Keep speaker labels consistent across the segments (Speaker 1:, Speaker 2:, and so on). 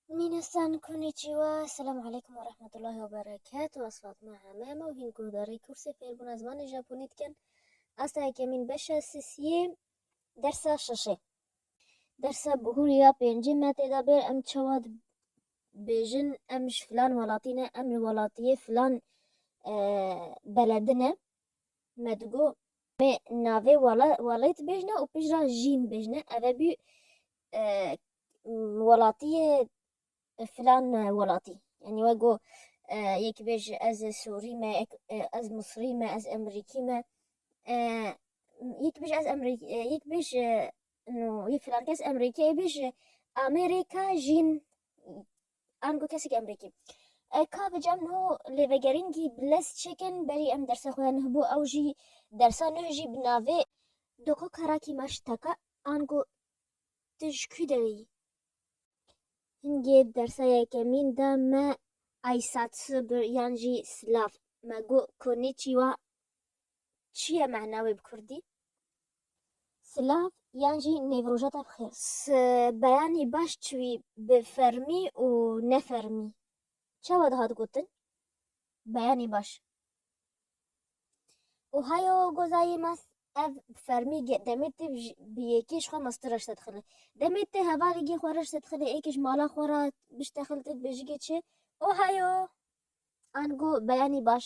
Speaker 1: Minastan konnichiwa, selamu aleykum ve rahmetullahi ve berekatuhu. Ez Fatma Hemem û hîn guhdarê kursê fêrbûna zimanê Japonî dikin. Asta yekemîn beşa sisiyê dersa şeşê. Dersa bihûr ya pêncî me têda bêr em çawa dibêjin em ji filan welatî ne, em li welatiyê filan beledi ne. Me digot, mê navê wela welê dibêjne û pijra jî nibêjne. Ev e bî welatiyê filan welatî. Yanî we got yekî bêje ez sûrî me, ez misrî me, ez emerîkî me. Yekî bêje ez emerî yekî bêje no yê filan kes emerîkayê bêje Amêrîka jîn ango kesekî emrîkî. E ka bi cem niho lêvegerîngî bi lez çêkin berî em dersa xwe ya nuh bo ew jî dersa nuh jî bi navê. Doko karakî ma ji te ka ango tu ji kû derê yî? Hingê dersa yekemîn de me Aysatsu bir yan jî Slav. Me got Konnichiwa. çi ye mana wê bi kurdî? Silav yan jî nêvrojata bi xêr. Si beyanî baş çiwî bi fermî û ne fermî çawa dihat gotin? Beyanî baş. Û hayo gozayê ma ev bi fermî demê tê bi yekê ji xwe mastira ji te dixile. Demê tê hevalêgê xwe re ji te dixile êkê ji mala xwe re bi ji te xile te dibêjigê çi? Û hayo ango beyanî baş.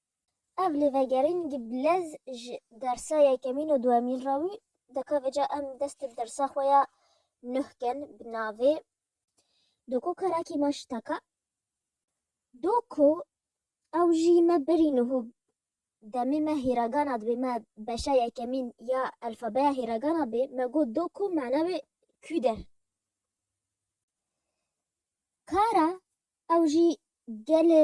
Speaker 1: Ev lêvegerîn gi bilez ji dersa yekemîn û duhemîn re wî dikeve ca em dest bi dersa xwe ya nû bkin bi navê Do ku karakî me şiteka do ku ew jî me berî nû û demê me hîragana dibê me beşa yekemîn ya elfabeya hîragana bê me got do ku mana wê kû der kara ew jî gelê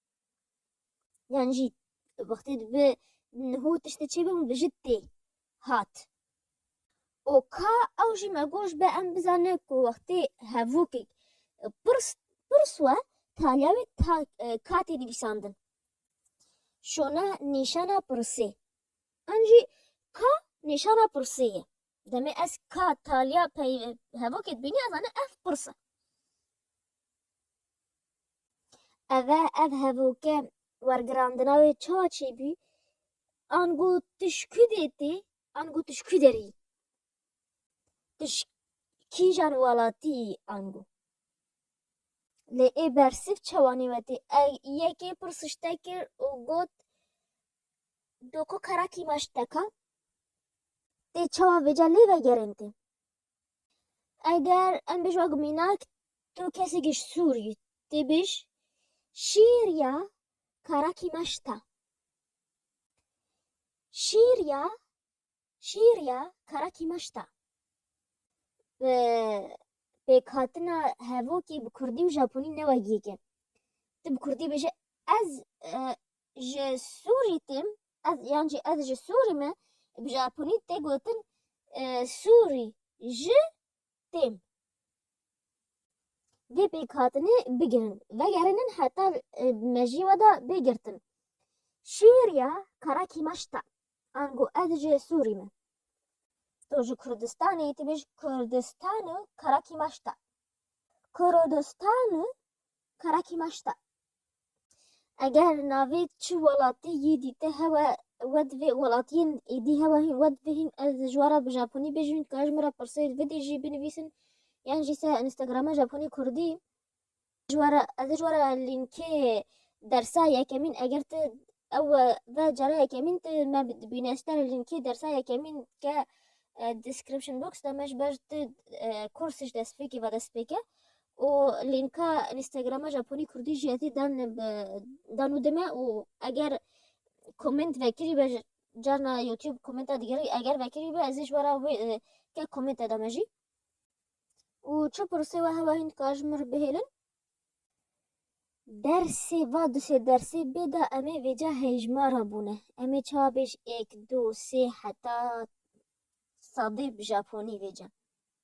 Speaker 1: yan jî wextê dibe niho tiştê çêbe min bijit tê hat. û ka ew jî me goş be em bizane ku wextê hevokek pirs pirs we taliya wê ta katê nivîsandin şona nîşana pirsê em jî ka nîşana pirsê ye demê ez ka taliya pey hevokê dibînî ez zane ev pirse Eve ev hevoke wergirandina wê ça çêbû? Ango tu ji ku dê tê? Ango tu ji ku derî? Tu ji kîjan welatî yî ango? Lê ê bersîv çawa nêwetî? Yekê pirsiş te kir û got doko kerakî me ji te ka? Tê çawa vêca lê vegerên tê? Eger em bêj wek mînak tu kesekî ji Sûriyê tê bêj şîr ya karakî me ji te. Şîr ya şîr ya karakî me ji te. Bi pêkhatina hevokê bi kurdî û japonî ne wek yek e. Ti bi kurdî bêje ez ji Sûriyê têm Ez yan jî ez ji Sûrî me, bi Japonî tê gotin Sûrî ji têm. Vê pêkhatinê bigirin, vegerînin heta mejiyê we de bê girtin. Şîr ya Kara Kîmaş ta, ango ez ji Sûrî me. To ji Kurdistanê yî, tu bêj Kurdistan û Kara Kîmaş ta. Kurodistan û Kara Kîmaş ta. Eger navê çi welatî yî dîte hewe we divê welatiyên êdî hewa hîn we dibihîn ez di jwara bi japonî bijîm ka ji min re pirsê vidî jî binivîsin yan jî se Instagrama japonî kurdî jwara ez jwara lînkê dersa yekemîn eger tu ew ve cara yekemîn tu me dibîne ez tera lînkê dersa yekemîn ke description box de me ji ber tu kurs ji destpêkê ve destpêke û lînka Instagrama Japonî Kurdî jî ezê dan bi dan û dime û eger komment vekirî be carna YouTube kommenta digerî eger vekirî be ezê ji wara wê ke komment te dame jî û çi pirsê we hewa hîn dikar ji min re bihêlin dersê va dusê dersê bêda emê vêca hejmara bûne emê ça bêj êk du sê heta sadê bi japonî vêca